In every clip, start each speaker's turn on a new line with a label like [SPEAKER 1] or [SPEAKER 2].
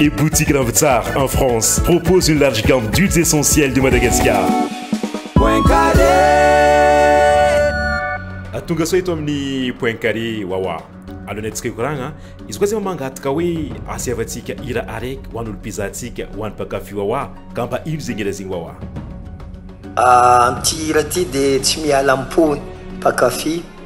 [SPEAKER 1] et boutique Ravitsar en France propose une large gamme d'huiles essentielles de Madagascar. Point
[SPEAKER 2] carré. Tonga soa eto
[SPEAKER 1] amin'ny point carré wawa. Alohan'ny antsika hikoragna, izy koa zay mangataka hoe asievantsika hira araiky ho an'olo mpizahantsika, ho an'ny mpankafy wawa ka mba ino zegny hira zegny wawa?
[SPEAKER 3] Amin'ity hira ty dia tsy miala am-pon'ny mpankafy.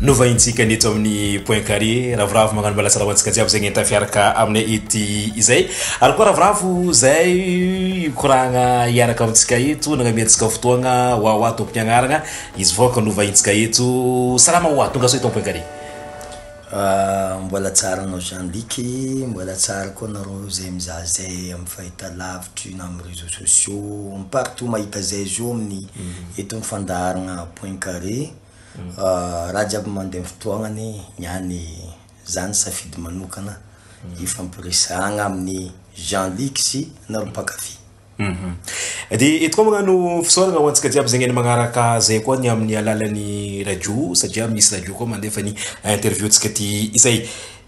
[SPEAKER 1] Novahintsika ny eto amin'ny point carré ravoravo magnano malasala ho antsika jiaby zay ngenta fiaraka aminay ety izay ary koa ravoravo zay mikoragna hiaraka amintsika eto nagnamiantsika fotoagna hoa hoa tompony agnaragna izy vaoka novahintsika eto salama hoa tonga soa eto point carré ah, mbola
[SPEAKER 3] tsara anao Jean Luc mbola tsara koa anareo zay mizaha zay amin'ny fahitalavitry na amin'ny réseaux sociaux partout mahita zay zo amin'ny mhm. eto amin'ny fandaharagna point carré Raha jiaby mandeha ny fotoagnany, ny any zany safidy manokana ifampiresahagna amin'ny Jean Luc sy anareo mpankafy. Mhm.
[SPEAKER 1] Dia eto koa magnano fisaoragna ho antsika jiaby zegny magnaraka zay koa ny amin'ny alalan'ny radio satria misy radio koa mandefa ny interview-ntsika ty izay.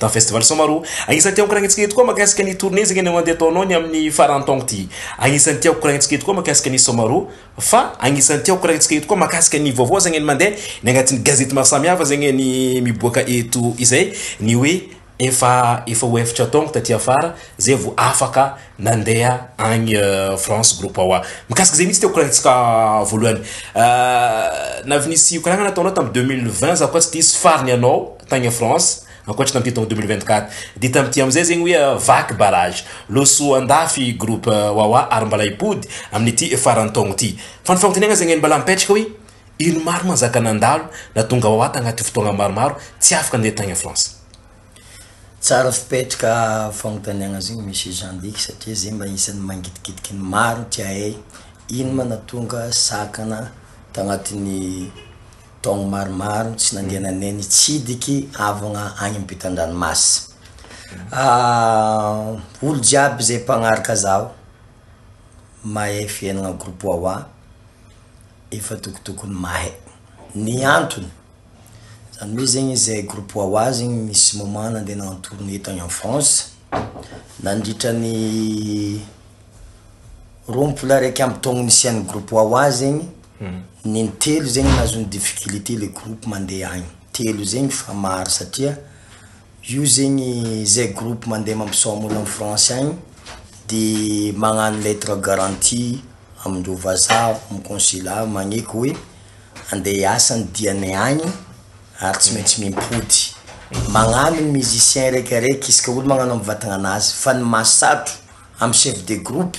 [SPEAKER 1] Dans Festival Samaroho. Agnisan'ny tiako koragnentsika eto koa makasika ny tournée zegny anao andeha ataonao ny amin'ny faran'ny taogno ty. Agnisan'ny tiako koragnentsika eto koa makasika ny Samaroho fa agnisan'ny tiako koragnentsika eto koa makasika ny vaovao zegny ny mandeha ny agnatin'ny gazety maro samy hafa zegny ny miboaka eto izay ny hoe efa efa ho efatra taogno taty afara zay vao afaka nandeha agny France groupe Wawa. Mikasika zegny mintsy tiako koragnentsika voalohany. Navy nisy koragnana ataonao tam deux mille vingt za koa tsy diso farany anao. tagny France ankoatry tamin'ity taogno 2024 de tamin'ity amizay zegny hoe vaky barrage loso andafy groupe wawa ary mbala hipody amin'ity faran'ny taogno ty fa ny fagnotaniagna zegny mbala mipetraka hoe ino maro manjaka nandalo natonga wawa tagnaty fotoagna maromaro tsy afaka ndeha tagny France.
[SPEAKER 3] Tsara fipetraka fagnotaniagna zegny Monsieur Jean Dick satria zegny mba isan'ny mangidigidiky ny maro tia hay ino ma natonga sakana tagnatin'ny Taogno maromaro tsy nandehananay nitsidiky havagna agny ampitan-dranomasy. Olo jiaby zay mpagnaraka zaho, mahay fiainagna groupe Wawa efa tokotokony mahay. Ny antony, zany hoe zegny izahay groupe Wawa zegny misy moment nandeha en tournée tagny en France, nandritra ny roampolo araiky amby taogno nisian'ny groupe Wawa zegny. Neny telo zegny nahazoany difficulité le groupe mande agny telo zegny fa maro satria io zegny zay groupe mande mampisaoma olo am France agny de magnano lettre garantie amindreo vazaha am consulat magneky hoe ande hiasa ny diany agny ary tsy maintsy mimpody magnano ny musicien raiky araiky izy ka olo magnano am vatagna nazy fa ny mahasatro am chef de groupe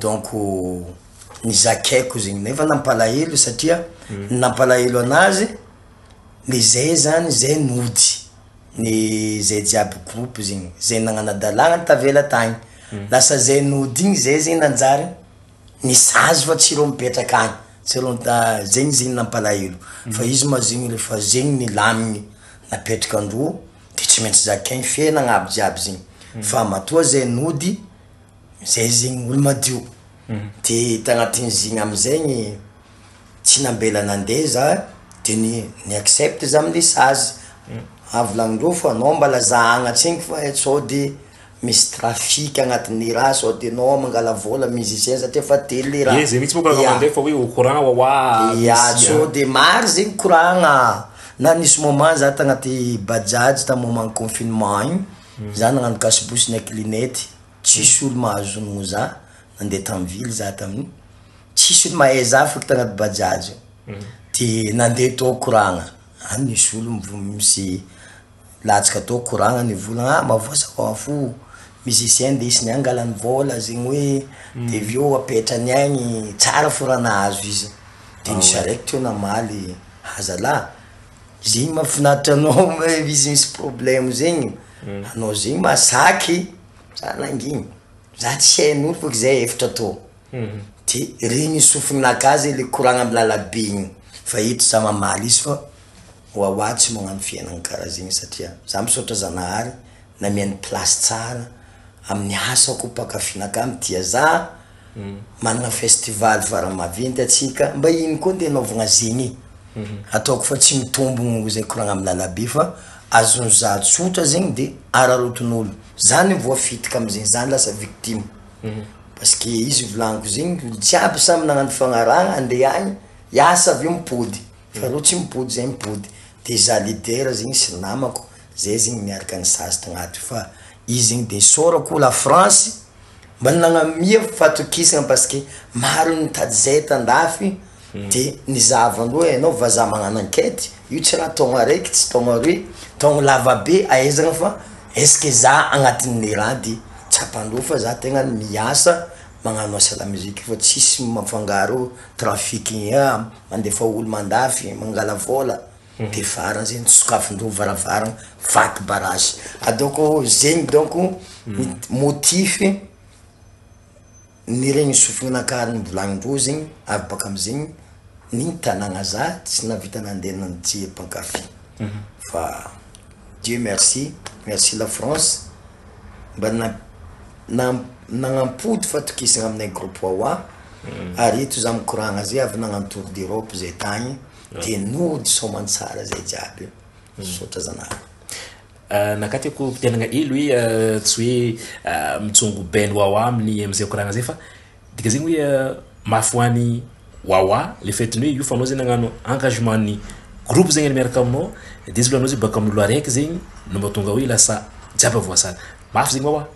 [SPEAKER 3] Donc ny zakaiko zegny nefa nampalahelo satria ny nampalahelo anazy le zay zany zay nody ny zay jiaby groupe zegny zay nagnanadalana tavela tagny lasa zay nody igny zay zegny nanjary nisazy fa tsy ireo mipetraka agny tsy ireo ta- zegny zegny nampalahelo fa izy ma zegny refa zegny nilamigny napetraka androa de tsy maintsy zakaigny fiainagna aby jiaby zegny fa matoa zay nody Zay zegny olo madio de tagnatin zegny amizegny tsy nambela nande za de ny ni accepte za amle sazy avy lagnindreo fa anao mba laza agnatregny fa sode misy trafic agnatiny raha sode anao mangala vola musicien satria efa telo le raha, ye zay mitsy moko anao nande fa
[SPEAKER 1] au courant wa wa ya sode
[SPEAKER 3] maro zegny koragna na nisy moment za tagnaty bajaj tamy moment confinement igny za nagnano kasibosy na kilinety tsisy olo mahazo honogno za nandeha tam ville za tamin'io tsisy olo mahay za foko tagnaty bajaj io de nandeha tao koragna any nisy olo mivo- misy latsaka tao koragna nivolagna ah mavosa ho an fo musicien ndesiny any angalany vola zegny hoe de avy eo apetrany agny tsara fo raha nahazo izy de ny charette io namaly ha zalah. Zegny mafinaritra anao izy misy problème zegny anao zegny masaky za nangina za tsy hain'olo fôgna zay efatra tô de regny sofinaka zay le koragna amy lalabe igny fa eto za mamaly izy fa oaoa tsy magnano fiainana kara zegny satria za misaotra zanahary namia ny place tsara amin'ny asako mpakafy nakà mitia za. Manana festival vary maventy atsika mba iny koa ndeha anaovagna zegny ataoko fa tsy mitombogno izay koragna amy lalabe fa azony za tsotra zegny de araraotin'olo za ny voafitika amizegny za lasa victime parce que izy volagniko zegny olo jiaby samy nagnano fagnarahagna ande agny hiasa aveo mipody fa reo tsy mipody zay mipody de za leader zegny sy namako zay zegny miaraka nisazy tagnaty fa izy zegny de isaorako la france Mbola nagnamia fatokisana parce que maro ny mitady izay eto andafy de ny zahavandroa ianao vazaha magnano enquete io tsy raha taogno araiky tsy taogno aroy taogno lava be ahaizagna fa est ce que za agnatin'ny raha de tsapandreo fa za tegna miasa magnano asa la musique fa tsisy mifangaro trafic mandefa olo mandafy mangala vôla. Dia vara zegny sokafin-doha varavarana vaky barazy ah donc zegny donc ny motif niregny sofina nakary novolagnin-droa zegny avy baka amizegny ny tanagna za tsy nahavita nande nandihy mpankafy fa Dieu merci merci la France mba na- na- nanampody fatokisana aminay groupe Wawa ary eto za mikoragna zay avy nagnano tour d'Europe zay tagny. dia nody soamantsara zay jiaby io misaotra zanako Nakatiko mpitenagna
[SPEAKER 2] hely hoe eh, tsy hoe eh, mijongo ben wawa amin'ny amin'izay koragna zay fa dika zegny hoe eh, mafy ho any wawa le fait ny hoe io fanao zegny nagnano engagement ny groupe zegny miaraka aminao dia izy loha anao zegny baka amin'olo araiky zegny no mahatonga hoe lasa jiaby voasara mafy zegny wawa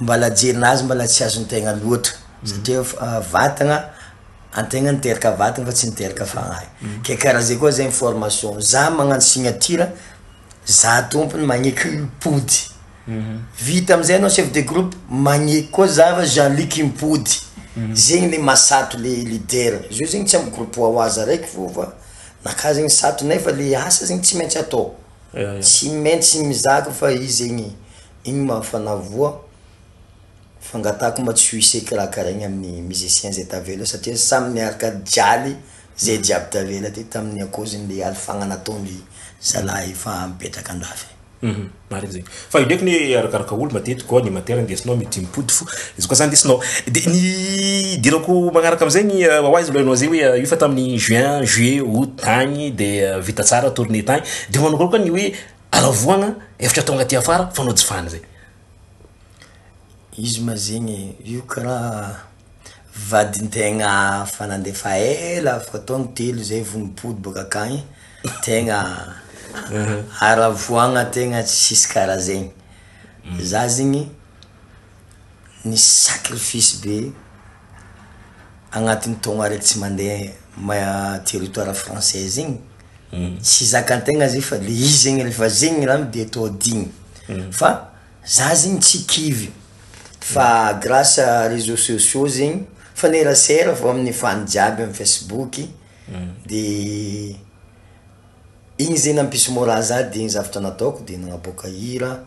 [SPEAKER 3] Mbala jerina azy mbala tsy azony tegna loatra satria vatagna antegna niteraka vatagna fa tsy niteraka fagnahy ke kara zay koa zegny formation za magnano signature za tompony magneky mpody vita amizay anao chef de groupe magneky koa za fa jean luc mpody zegny le maha sato le leader zio zegny tsy amy groupe wa waza raiky fô fa naka zegny sato nefa le asa zegny tsy maintsy atao tsy maintsy mizaka fa izy zegny Igny ma fanavoa fangatahako ma tsy ho ise kirakaraigny aminy musicien zay tavela satria samy niaraka jaly zay jiaby tavela ty taminy akoziny le alifagna nataony zalahy efa mipetraka andafy. Hum marigny zegny
[SPEAKER 2] fa io ndraiky ne arakaraka olo matetiky koa animateur ndesinao mety mipody fo izy koa za ndesinao de ny idirako magnaraka amizegny oa izy milaza zay oe io fa taminy juin juillet aout tagny de vita tsara tourne tagny de manao koa ny oe aravoagna efitra tonga aty afara fanao jifany zay.
[SPEAKER 3] Izy ma zegny e, io karaha vadin-tegna efa nandefa ela efa taogno telo zay vao nipody boaka akagny, tegna aravoagna tegna tsisy karaha zegny, za zegny nisy sacrifice be agnatin'ny taogno araiky tsy mandeha ma- territoire français zegny. sy zakantegna zay fa le izy zegny refa zegny rano de atao digny fa za zegny tsy kivy fa grace à reseau sociaux zegny mifanerasera avy amin'ny fan jiaby amin'ny facebook de igny zegny nampisy moral za de igny zavatra nataoko de nanaboaka hira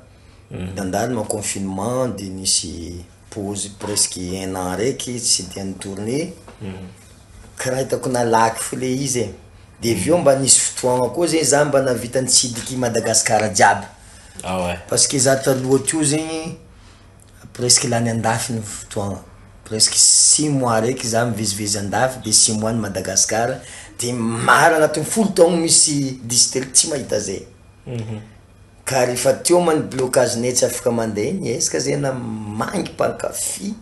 [SPEAKER 3] nandalo confinement de nisy Pause presque un an raiky tsy dia nitourne, kiraitako nalaky fo le izy e, de avy eo mba nisy fotoagna koa zegny za mba navita nitsidiky i Madagascar jiaby, parce que za taloha teo zegny presque lany andafy ny fotoagna, presque six mois raiky za mivezivezy andafy de six mois any Madagascar, de maro agnatin'ny folo taogno misy dix telo tsy mahita zay. Ka ry Fatioma ny blocage-nay tsy afaka mandeha eny eh, izy ka zay na mangy mpankafy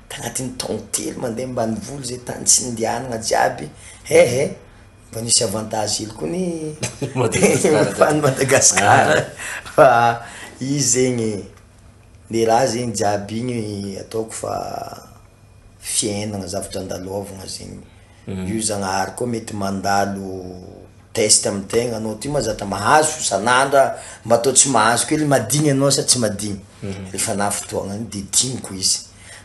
[SPEAKER 3] ka anatin'ny taon telo mandeha ambanivolo zay tany tsy nindehanagna jiaby eh eh, mba nisy avantage hely koa ny efa ny Madagascar fa izy zegny le raha zegny jiaby igny ataoko fa fiainagna zavatra andalôvagna zegny. Io Zagnahary koa mety mandalo test am tegna anao ty ma zatra mahazo sanandra mba atao tsy mahazo kely madigny anao sa tsy madigny refa na fotoagna ny de digniko izy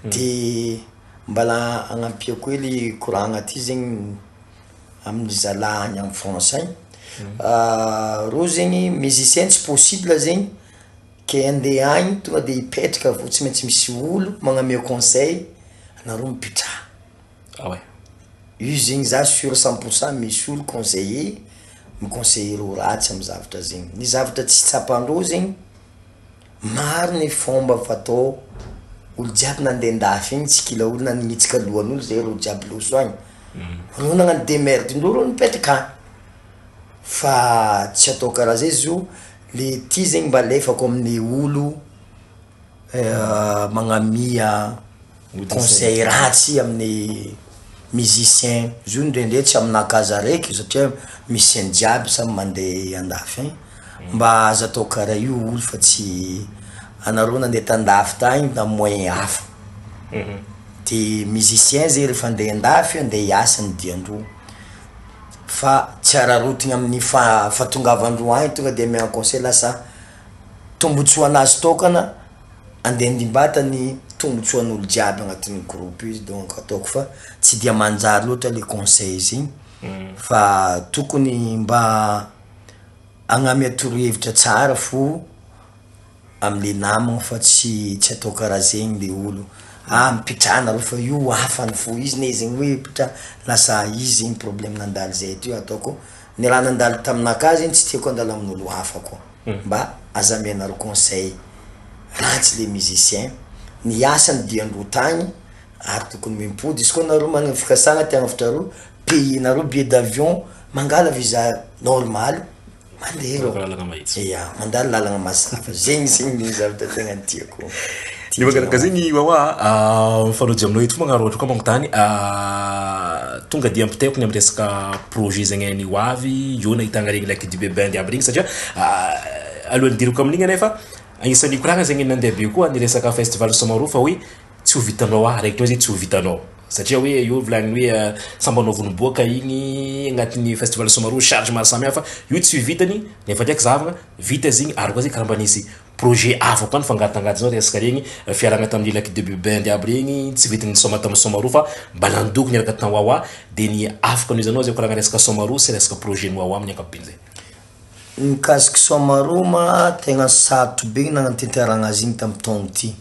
[SPEAKER 3] de mbala agnampiako kely koragna ty zegny aminy zalah any am France any reo zegny musicien tsy possible zegny ke ande any tonga de hipetraka avy eo tsy maintsy misy olo magname conseil anareo mipetraha. Ah ouais. Io zegny za sur cent pour cent misy olo conseiller mi conseiller ho ratsy am zavatra zegny, ny zavatra tsy tsapandreo zegny maro ny fomba fatao olo jiaby nande andafy egny tsy kila olo nanitsika lohanolo zay reo jiaby loso agny reo nagnano demerdendreo reo nipetraka agny fa tsy atao kara zay zio le ty zegny mba alefako amle olo magnamia Conseil ratsy amin'ny musicien zio ndrendre tsy amina cas araiky satria musicien jiaby samy mande andafy any mba aza atao kara io oul fa tsy anareo nande tandafy tagny tam moyen hafa de musicien zay refa ande andafy ande hiasa ny diandreo fa tsy ararotigny amin'ny fa fa tongavandreo agny tonga de ame conseil lasa tombotsoa anazy tokana Andeha handimbata ny tombotsoan'olo jiaby agnatin'io groupe io izy donc ataoko fa tsy dia manjary loatra le conseils igny fa tokony mba agnamia torohevitra tsara fo amle namagna fa tsy tsy atao karaha zegny le olo ah mipitraha nareo fa io hafa ny fo izy ne zegny hoe pitraha lasa izy zegny problème nandalo zay teo ataoko ny raha nandalo taminah ka zegny tsy tiako handalo amin'olo hafa koa. mba aza amenareo conseil ratsy le musicien ny asany dia ndro tagny ary tokony mimpody izy koa nareo magnagny fikasagna te hagnavotra areo payer nareo billet d'avion mangala visa normal mandeha reo ya mandalo lalagna mazava zegny zegny le zavatra tegna tiako. Ny mangarakazay
[SPEAKER 2] ny wawa a, mifanojo aminao eto fogna Rojo ka magnontany a, tonga dia ampitaiko ny amin'ny resaka projet zegny any ho avy eo nahitagna regny lac du Bebin jiaby regny satria alohan'ny hidirako amin'igny anie fa agnisan'ny nikoragna zegny nandeha be koa ny resaka festival Samaroho fa hoe tsy ho vitanao ah, araiky ndray zay tsy ho vitanao satria hoe eo volagny hoe sambanao vao niboaka igny agnatin'ny festival Samaroho charge maro samihafa io tsy ho vitany nefa ndraiky zahavagna vita izy igny ary koa zay karaha mba nisy projet hafa koa ny fangatangatanao resaka regny fiarahana tamin'ny lac de bubend aby regny tsy vidy ny soma tamin'ny somaroa fa mba nandoko niaraka tany wawa dia ny afaka noho izy anao zay koragna resaka somaroa sy resaka projet ny wawa amin'ny ankapobeny zay mikasiky
[SPEAKER 3] somaroa ma tegna sarotro be nagnantenteragna azy igny tamin'ny taogno ity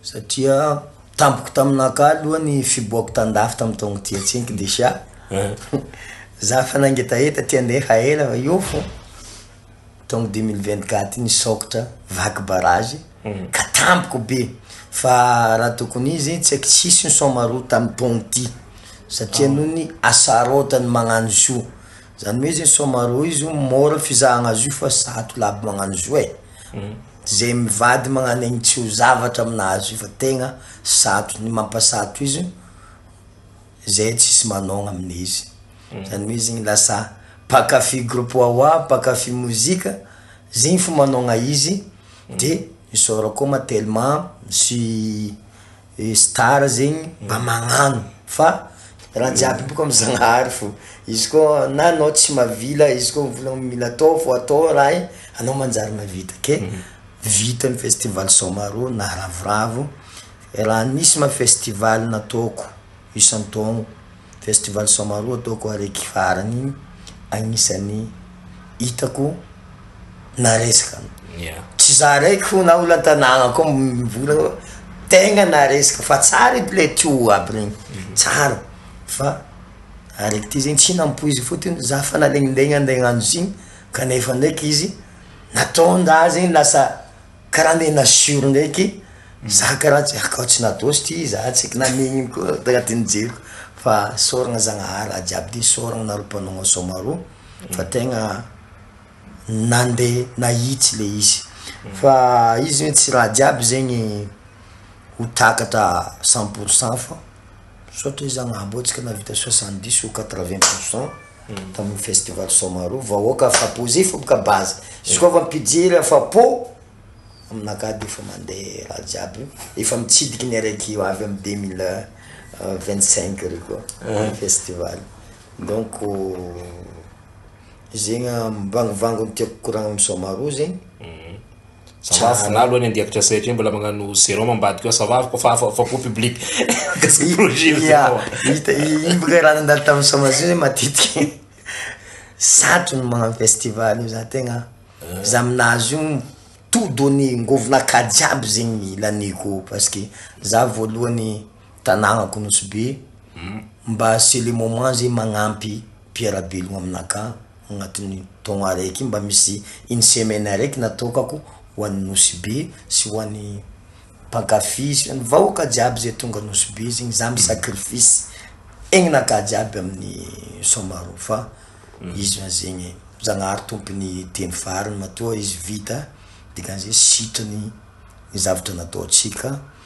[SPEAKER 3] satria tampoka taminaka aloha ny fiboako tan-dafy tamin'ny taogno ity antsiniko deja za fa nangetaheta ty andeha fa ela fa eo fô. taongo 2024 iny sokitra vaky barrage mhm. ka tampoka be fa raha tokony izy tsy aiko tsisy ny somaroa tamin'ny taogno ty satria ah. noho ny asarotany magnano zo zany hoe izy ny somaroa izy o mora fizahagna azy io fa zato laby magnano zo e mhm. zay mivady magnano egny tsy ho zavatra aminazy io fa tegna sato ny mampasato izy zay tsisy manogna amina izy Zany hoe zegny lasa mpankafy groupe Wawa, mpankafy mozika, zegny fo manaogna izy, de isaorako koa ma telma misy star zegny mba magnano fa raha jiaby boka amy zagnahary fô, izy koa na anao tsy mavila izy koa mivôlagna mila atao fô atao raha e anao manjary mavita ke vita ny festival Soamarô naravoravo, raha nisy ma festival nataoko. isan-taogno, festival Samaroho ataoko araiky farany agnisan'ny hitako na resaka, tsy za araiky fô na olantanagna koa mivola fa tegna na resaka fa tsara edy le tuyau aby regny, tsara fa araiky ty zegny tsy nampoiziko fôtony za fa nalegnilegny ande hagnano izy igny kanefa ndraiky izy nataon-draha zegny lasa Karaha andeha nassure ndraiky za karaha tsy hakao tsy nadosy ty za tsy haiko na nenina koa tena ty nijeriko fa sorogna Zagnahary raha jiaby de sorogno nareo mpanao asao maroo fa tegna nandeha nahitsy le izy fa izy hoe tsy raha jiaby zegny ho takatra cent pour cent fa. Misaotra izy Zagnahambotsika nahavita soixante dix ou quatre vingt pour cent tamin'ny festival Somaroho, vahoaka afapo zay fo ka base, izy koa fa mpijery afapo, aminakahy de efa mande raha jiaby, efa mitsidiky ny araiky avy amin'ny deux mille vingt cinq re koa ny festival, donc zegny mivangovango ny tiako koragna amin'ny Somaroho zegny. Ça
[SPEAKER 2] va, za aloha any andiako tracé hatreto mbola magnano sérum ambadika ao, ça va fa afa afapo public. Gasy projet io zao ah. Hita iny
[SPEAKER 3] boka raha nandalo tamin'ny sommation zay matetika. Satry ny magnano festival io za tegna ah. za aminazy io tout donné ngovinaka jiaby zegny laniko parce que za voalohany tanagnako Nosy Be hmm. mba c'est le moment zegny magnampy mpiara-belogno aminakahy. agnatin'ny taogno araiky mba misy une semaine araiky natokako ho an'ny Nosy Be sy ho an'ny mpankafy sy ny vahoaka jiaby zay tonga Nosy Be zegny za mi sacrifice aignakah jiaby amin'ny Soamarao fa izy ma zegny Zagnahary tompon'ny telo fariny matoa izy vita dikan'izay sitrany ny zavatra nataontsika.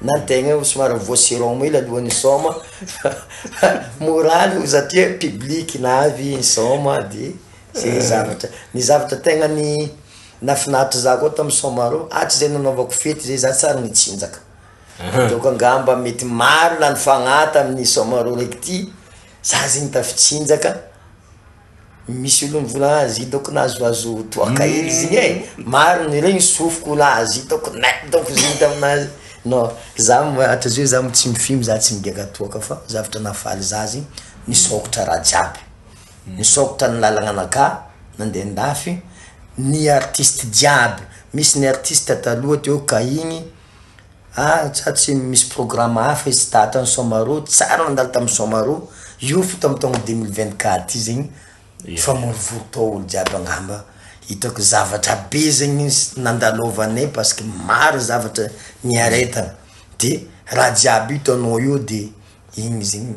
[SPEAKER 3] na ny tegna io somary mivoa sur'homme io alohan'ny hisaoma fa mora aloha satria public na avy i nisaoma de zay zavatra, ny zavatra tegna ny nahafinaritra za koa tamin'ny saoma reo hatry zay nanaovako fety zay za tsy ary nitsinjaka, donc angamba mety marina ny fagnahy tamin'ny saoma reo raiky ty za zegny tafitsinjaka Misy olo mivola azy hitako nahazoazo toaka hely izy igny e, maro ny regny sofiko ho lahy azy hitako na hitako izy igny taminazy, non za hatrizay io za tsy mifimbo za tsy migiaka toaka fa zavatra nahafaly za zegny nisôkatra raha jiaby, nisôkatra ny lalagna anakah nande andafy, ny artiste jiaby, misy ny artiste taloha teo ka igny. Ary tsa tsy misy programa hafa izy tahata ny Somaroa, tsara nandalo tamin'ny Somaroa, io fo tamin'ny taona deux mille vingt quatre io zegny famorivory tao olo jiaby angamba hitako zavatra be zegny nandalovanay parce que maro zavatra niaretana de raha jiaby hitanao io de igny zegny.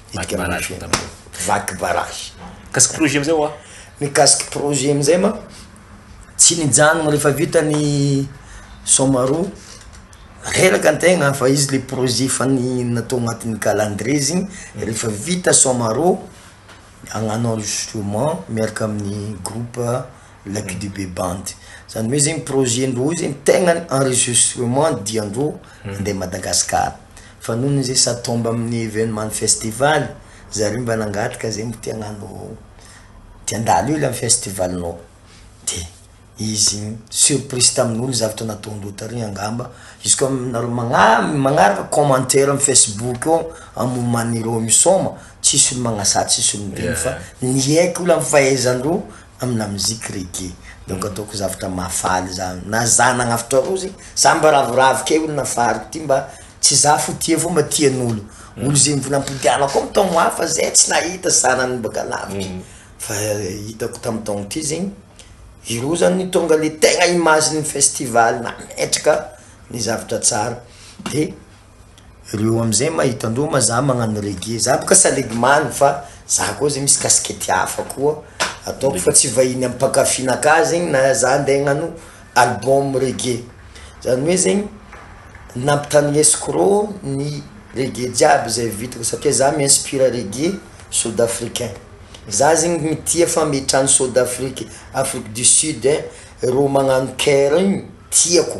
[SPEAKER 3] Vaky barrage vao tapaka. Vaky barrage. Mikasika projet amizay
[SPEAKER 2] oa? Mikasika projet
[SPEAKER 3] amizay ma tsy nijanona refa vita ny soma roa reraka antegna fa izy le projet efa ny natao agnatin'ny calendrier zegny refa vita soma roa agnano enregistrement miaraka amin'ny groupe la qdb band zany hoe zegny projet ndreo zegny tegna enregistrement diandreo. Nandeha Madagascar. Fa nony izy sa tomba amin'ny evenement festival zareo mba nangataka zay mbo te hagnano te handalo eo le am festival nao de izy surprise tamin'olo zavatra nataondreo tary angamba izy koa nareo magna- magnaraka commentaire am facebook ao am moment ireo misaoma tsisy olo magnasà tsisy olo mino fa niaiky olo am fahaizandreo amin'ny lamoziky reggae. Donc ataoko zavatra mahafaly za. Na za nagnavotra rozy, za mba ravoravo key olo nafariko ty mba tsy za fo tia fo mba tian'olo. Olo ze mbola ampiodianako ao taogno hafa zay tsy nahita zanany mbaka lavitry. Fa hitako tam taogno ty zegny, ireo zany no tonga le tegna image-n'ny festival nametraka ny zavatra tsara. De Reo amzay mahita an'reo ma za magnano reggae za boka salegy maly fa za koa zay misy casquette hafa koa ataoko fa tsy vahiny am mpankafy naka zegny na za nde agnano album reggae zany hoe zegny nampitagninesiko reo ny reggae jiaby zay vitako satria za mi inspire reggae sud africain za zegny mitia fa mitrany sud afrique afrique du sud reo magnano caire io tiako.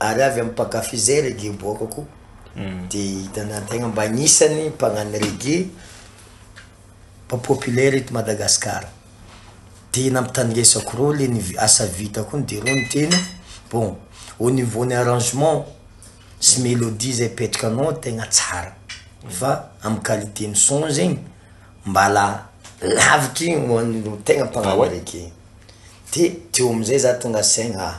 [SPEAKER 3] Ary avy amin'ny mpankafy izay reggae miboakako dia hitanà tegna mba agnisan'ny mpagnano reggae mba populaire eto Madagascar. Dia nampitandresako reo le ny asa vitako igny de reo niteny bon au niveau ny arrangement sy melodie zay apetrakanao tegna tsara fa amin'ny qualité ny son zegny mbala lavitry ny ho an'ireo tegna mpagnano reggae. De teo am'zay za tonga saigna ah.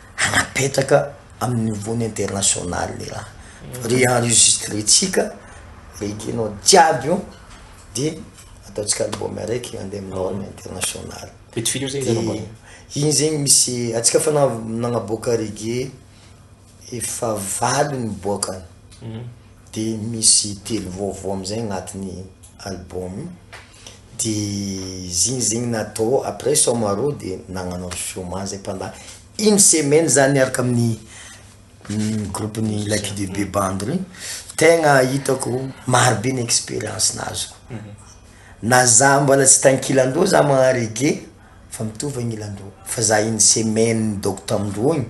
[SPEAKER 3] hanapetraka amin'ny niveau-ny international le raha fa re enregistrentsika re kino jiaby io de ataontsika album araiky andeha amin'ny norme international Vitsivitsy eo zay izy anamboarina. iny zegny misy antsika fa na- nagnaboaka reggae efa valo niboaka de misy telo vaovao amizay agnatin'ny album. de zigny zegny natao après soma roa de nagnanao soma zay pendant une semaine zah niaraka amin'ny groupe ny la QDB band reo tegna hitako maro be ny experience nazoko, na zah mbola tsy tankilan-doha zah magnano reggae. fa mitovy agny ilan-droa. Fa za iny semaine nidôko tamin-droa igny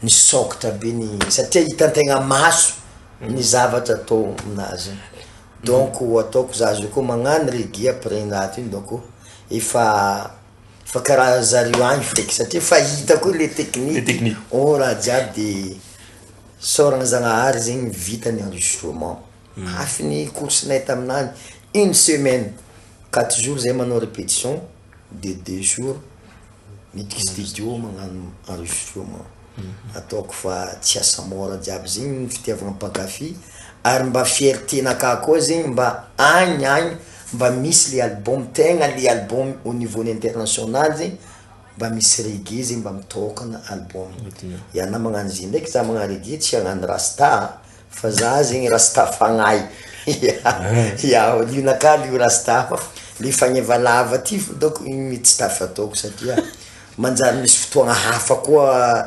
[SPEAKER 3] nisôkatra be ny satria hitan-tegna maso ny zavatra atao aminazy igny, donc ataoko za zao koa magnano reggae après ny raha ty donc efa efa karaha zareo agny feky satria efa hita koa le tekniky ô raha jiaby de sôragna zagnahary zegny vita ny enregistrement. Mafy ny course nay taminany une semaine quatre jours zay manao repetition de deux jours miditra studio magnano enregistrement ataoko fa tsy asa mora jiaby zegny ny fitiavagna mpankafy ary mba fierté nakahy koa zegny mba agny agny mba misy le album tegna le album au niveau ny international zegny mba misy reggae zegny mba mitôkagna album ianah magnano izy ndraiky zah magnano reggae tsy hagnano rasta Fa za zegny rasta fagnahy Iao liona ka lio rasta fa le fagneva lava ty fataoko igny mety tsy tafataoko satria manjary misy fotoagna hafa koa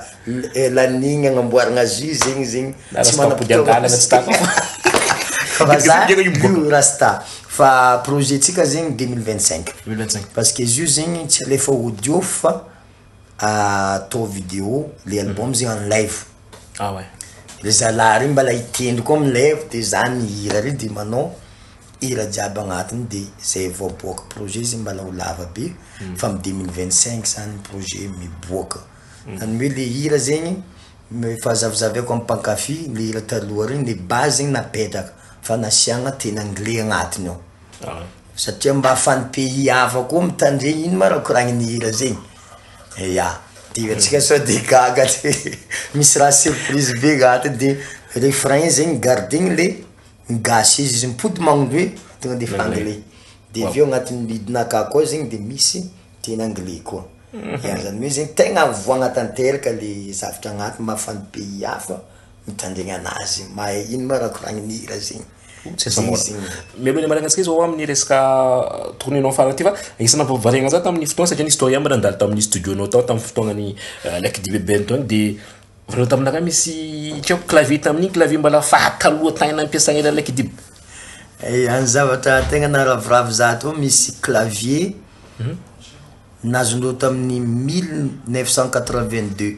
[SPEAKER 3] lanigny agnamboaragna azy io zegny zegny tsy manam-potoagna Fa za lio rasta fa projet-tsika zegny deux mille vingt cinq deux mille vingt cinq parce que izy io zegny tsy alefa audio fa. atao video le album zay en live Ah ouais. le zalahy reo mbala hitendry koa am live de za mihira reo de manao hira jiaby agnatiny de zay vao aboaka projet zay mbala ho lava be fa am deux mille vingt cinq zany projet miboaka zany hoe le hira zegny m- efa zavizaviako am mpankafy le hira taloha regny le base zegny napetraka fa nasiagna teny anglais agnatiny ao. Aah. Satria mba fan pays hafa koa mitandregny ino ma raha koragniny hira zegny ya de antsika sao de gaga tsy misy raha surprise be za to de refrain zegny gardegny le gasy izy izy mipody magnindroy tonga de efa anglais de aveo agnatin'ny lead-nakah koa zegny de misy teny anglais koa ya zany hoe zegny tegna voagna tanteraka le zavatra agnaty mba fan pays hafa. Mitandregny anazy mahay ino ma raha koragny ny hira zegny.
[SPEAKER 2] Mialoha ny hamarana antsika zao amin'ny resaka tourner nao farany ity fa isana variana za tamin'ny fotoana satria nisy fotoana ihany mbola nandalo tamin'ny studio nao tao tamin'ny fotoanan'ny euh, like dibeben tony de vareo taminaka misy tsy haiko clavier tamin'iny clavier mbala fahataloha tany nampiasana ilay like diby eh, any
[SPEAKER 3] zavatra tegna naraviravy za to misy clavier mhm. nazonao tamin'ny mille neuf cent quatre-vingt-deux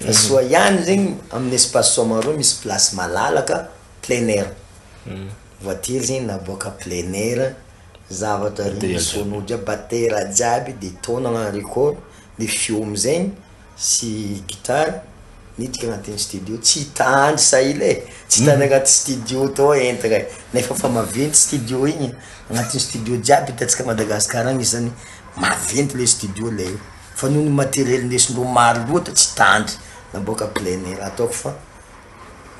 [SPEAKER 3] Fa soa ihany zegny amin'ny espace Soamarô misy place malalaka plein air. Voiture zegny naboaka plein air, zavatra regny sono jiaby, batera jiaby de tao nagnano record, ny feo am'zegny sy guitare niditra agnatin'ny studio, tsy hitandry sahila e, tsy hitandry agnaty studio tao entagna e, nefa efa maventy studio igny, agnatin'ny studio jiaby hitantsika Madagasikara agny zany maventy le studio le. Fa noho ny matériel nesin'ireo maro loatra tsy tandry naboaka plein air ataoko fa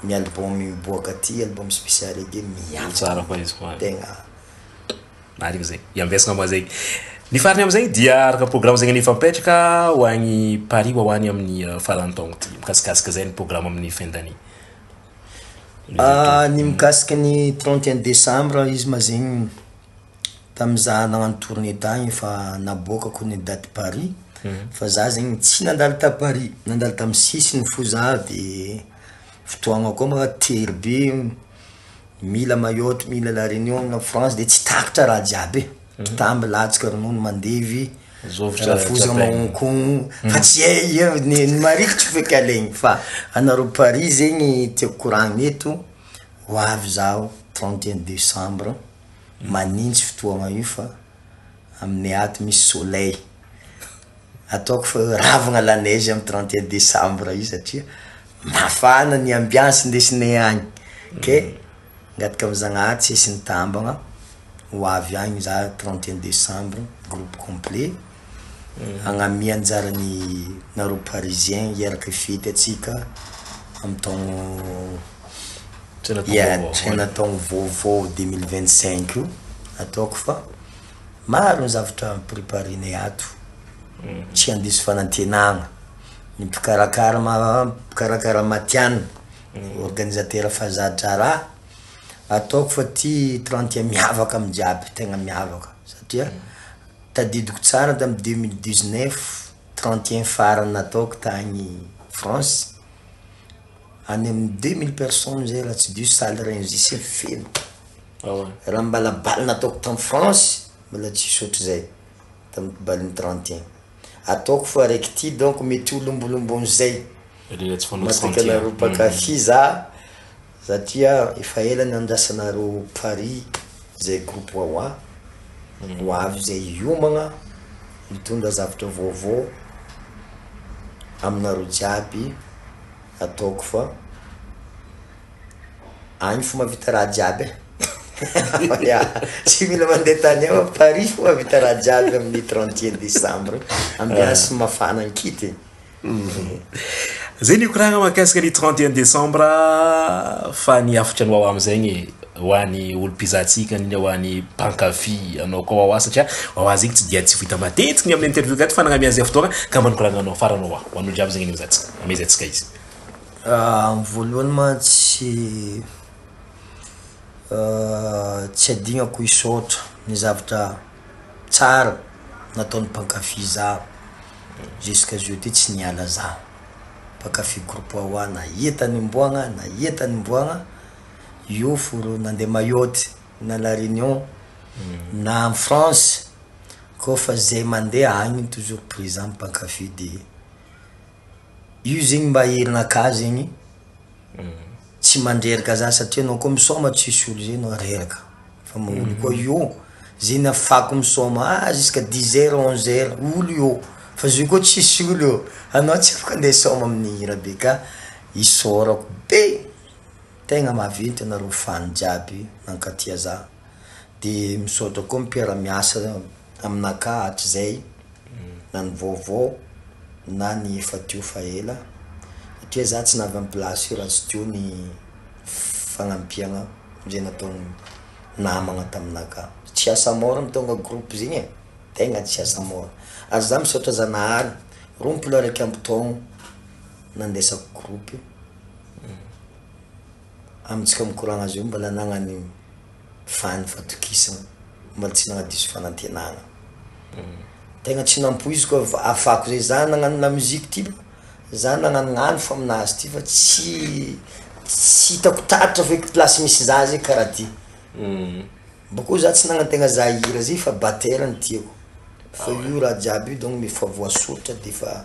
[SPEAKER 3] ny album
[SPEAKER 2] miboaka
[SPEAKER 3] aty album spécial reggae miantsona tegna
[SPEAKER 2] Marigny zay. Iambesagna moa zegny. Ny farany amizay dia araka programa zegny efa mipetraka ho agny Paris ho any amin'ny faran'ny taogno ty. Mikasikasika zay ny programa amin'ny fin d'année.
[SPEAKER 3] Ny mikasika ny trente et un décembre izy ma zegny. tamin'izaho hanao an'i tournée tagny efa naboakako ny date Paris fa za zegny tsy nandalo ta Paris nandalo tamin'ny sisiny fo za de fotoagna koa ma tery be mila maillot mila la reunion na France de tsy takatra raha jiaby e, mpitaha milatsaka ronono mandevy rafozana mahonkogno fa tsy hay eo ny marikitry feky alaigny fa anareo Paris zegny tiako koragnina eto. Ho avy izaho trente et un décembre manintsy fotoagna io fa amin'ny aty misy soleil. Ataoko fa hoe ravagna la neige amin'ny trente et un décembre io satria mafana ny ambiance ndesinay agny. Kay angataka amin'ny Zagnahary tsy hisy nitambagna ho avy agny za trente et un décembre groupe complet. hagnamia anjarany nareo parisien hiaraka hifety atsika am taogno ya tsaina taogno vaovao deux mille vingt cinq io ataoko fa maro ny zavatra am preparenay ato tsy handiso fanantenagna ny mpikarakara mpikarakara matianina organisateur fazadraraha ataoko fa ty trente miavaka am jiaby tegna miavaka satria Tadidiko tsara tamin'ny deux mille dix neuf trente et un farany nataoko tany France, any amin'ny deux mille personnes zay raha tsy diso salle Rungis iny feno, raha ny mbala bal nataoko tany France mbola tsisy ohatrizay tamin'ny balon'ny trente et un, ataoko fa araiky ity donc mety ho lombolomboan'izay, matetika nareo mpankafy za. Za tia efa ela nandrasana reo Paris zay groupe wawa ho avy zay hiomagna mitondra zavatra vaovao aminareo jiaby ataoko fa any fo mavita raha jiaby eh ya tsy mila mande tany hafa Paris fo mavita raha jiaby aminy trente et un decembre ambiance mafana an-kity.
[SPEAKER 2] Zay ny koragna mahakasika ny trente et un décembre fa ny hafatra ny wawa amin'izay ny ho an'ny olom-pizahantsika ny ho an'ny mpankafy anao koa wawa satria wawa zegny tsy dia tsy ho hita matetiky ny amin'ny interview gaty fa nagnamia an'izay fotoagna ka mba ny koragna anao farany wawa ho an'olo jiaby zegny ny mizahantsika amezantsika izy. Amin'ny
[SPEAKER 3] voalohany mantsy tsy adignako hisaotra ny zavatra. tsara nataon'ny mpankafy zaho jusqu'à jeudi tsy niala zaho mpankafy groupe hoa na iha tany Ambohagna na iha tany Ambohagna io foro nandeha Mayotte na la Réunion na any France koa fa zay mandeha agny toujours présent mpankafy de io zegny mba herinakah zegny Tsy mandreraka za satria anao koa misaoma tsy hisy olo zay anao reraka fa maolo koa io zay nafako misaoma ah jusqu'à dix heures onze heures olo io fa zay koa tsisy olo eo anao tsy afaka nde hisaoma amin'ny hira be ka isaorako be tegna maventy anareo fan jiaby nankatia za. de misaotra koa mpiara miasa aminakahy hatrizay na ny vaovao na ny efa teo fa ela satria za tsy navy am place io raha tsy teo ny fagnampiagna zay nataony namagna taminakahy tsy asa mora ny tonga groupe zegny e tegna tsy asa mora ary za misaotra zanahary rompolo araiky amby taogno nandesako groupe io amitsika mikoragna azy io mbola nagnan'io. vany fatokisana mbola tsy nagnadiso fanantenana tegna tsy nampoiziko hoe afako zay za nagnano la musique ty ba za nagnanognano fa aminazy ty fa tsy tsy hitako taratra feky place misy za zay kara ty bakeo za tsy nagnantegna za hira zay fa batera no tiako fa io raha jiaby io donc efa voasoritra defa.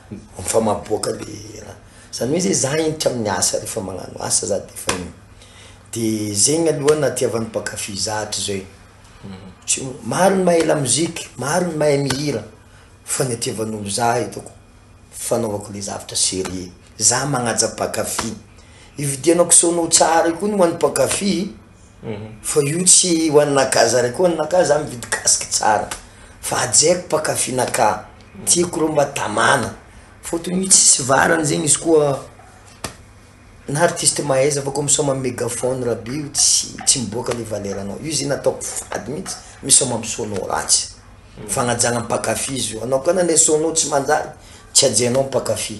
[SPEAKER 3] Efa maboaka le raha. Zany hoe zay za entitra amin'ny asa rehefa magnano asa za de efa iny. De zegny aloha nahatiavan'ny mpankafy za hatrizao e. Tsy m- maro ny mahay lamoziky, maro ny mahay mihira fa ny atiavan'olo za hitako fanaovako le zavatra serieux. Za magnaja mpankafy. Ividianako sono tsara io koa ny ho an'ny mpankafy. Fa io tsy ho an'nakahy zare koa an'nakahy za mividy casque tsara fa hajaiko mpakafy nakahy tiako reo mba tamana fotony io tsisy varany zegny izy koa na artiste mahaiza fa koa misaoma amy megaphone rabe io tsy tsy miboaka le valeranao io zegny ataoko fady mintsy misaoma amy sono ratsy fagnajagna mpakafy izy io anao koa nane sono tsy manjary tsy hajainao mpakafy.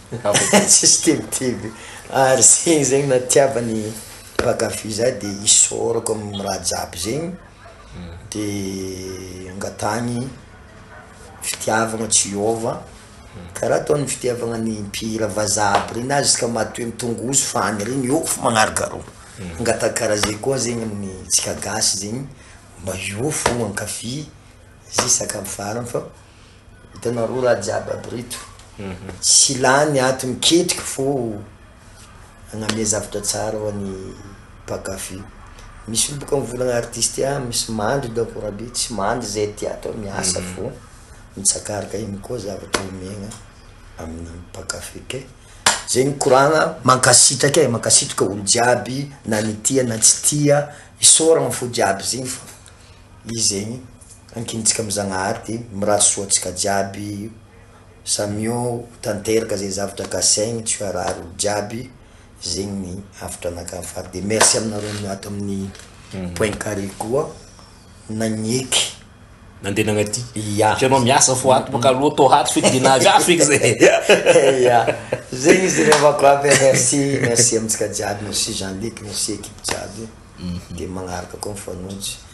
[SPEAKER 3] Tsisy tebiteby ary zegny zegny na tiavany mpakafy za de isaorako am raha jiaby zegny de angatahany fitiavagna tsy hiova kara ataony fitiavagna ny mpihira vazaha aby regny na zisky matoa am tongozo fany regny eo fô magnargarogno angataha kara zegny koa zegny aminy tsika gasy zegny mba eo fôgna ankafy ze sakafo farany fa. Hitanareo raha jiaby aby reto. Mhm. Tsy lany ato miketrika fô agname zavatra tsara ho an'ny mpankafy. Misy olo boka mivolagna artiste ah, misy mandry i Davora be, tsy mandry zay aty ato ah, miasa mhm. fô mitsakaraka igny koa zavatra omegna amin'ny mpankafy kay. Zay ny koragna, mankasitraka e, mankasitraka olo jiaby na ny tia na tsy tia, isaoragna fo jiaby zegny fa izy zegny. Ankinintsika am Zagnahary de mirary soa antsika jiaby samia ho tanteraka ze zavatra kasaigny tsy ho harary olo jiaby zegny ny hafatra anakah fary de merci aminareo niato aminy point carré koa nagneky nandeha
[SPEAKER 2] nagnaty ya hitanao miasa fo ato baka aloha to ato feky de nahazo ato feky zay ya
[SPEAKER 3] zegny izy revako aby merci merci amintsika jiaby merci Jean Luc merci ekipe jiaby de magnaraka koa mifanojy.